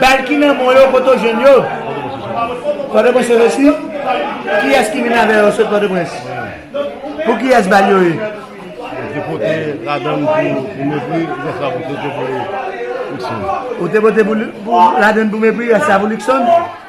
Bal ki nan men yo kote ou jwenn yo? Pòtoprens se resi? Kiyès ki vin avè yo sot Pòtoprens? Pou kiyès bal yo ye? Ou te vote pou ladann pou mepri rès la pou Luckson?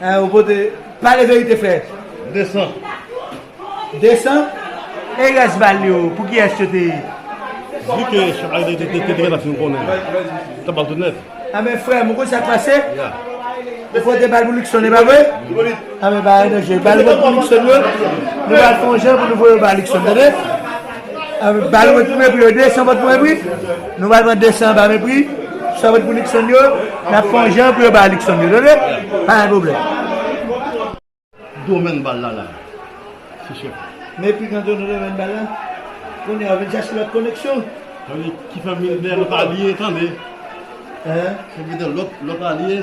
Hein ou pote pale verite fè 200 200 e res bal yo pou kiyes yo te ye? Vu ke chak la te te te gentan fin konnen li ta bal tout nèt. Anben frèm ou konn sak pase ou pote bal pou Luckson epa vre anben pa gen danje bal ou pote pou Luckson yo nou pral fè yon jan pou nou voye yo ba Luckson tande. Bal wot pou mepri yo 200 vòt pou mepri nou pral pran 200 anba mepri sa vòt pou Nixon yo nap fè yon jan pou yo bay Nixon yo tande pa gen pwoblèm. Domen bal la la se chèf. Mepri gen do nan domen bal la kounye a ou vin chache lòt koneksyon. Tande ki fè vin gen lòt alye tande. Hein. Fè vin gen lòt alye.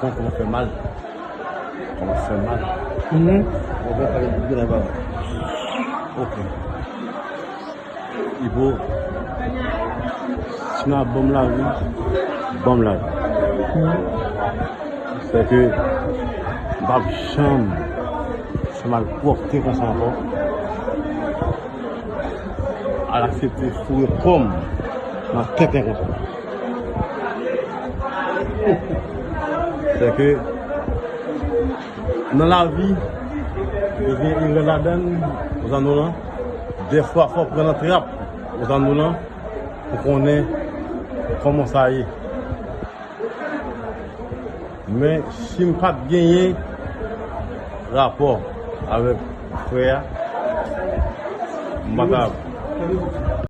Koko ou fè mal ou fè mal ok ibo si nan banm lavi banm lavi se ke bab chanm se mal pwopte konsa anko al aksepte foure kom nan tenten konsa. Se ke nan lavi, yo gen yon lè ladan, yo zan nou lan, de fwa fwa pran nan trap, yo zan nou lan, pou konnen koman sa ye. Men, si m pat genyen rapò avèk frè a, m pa ta.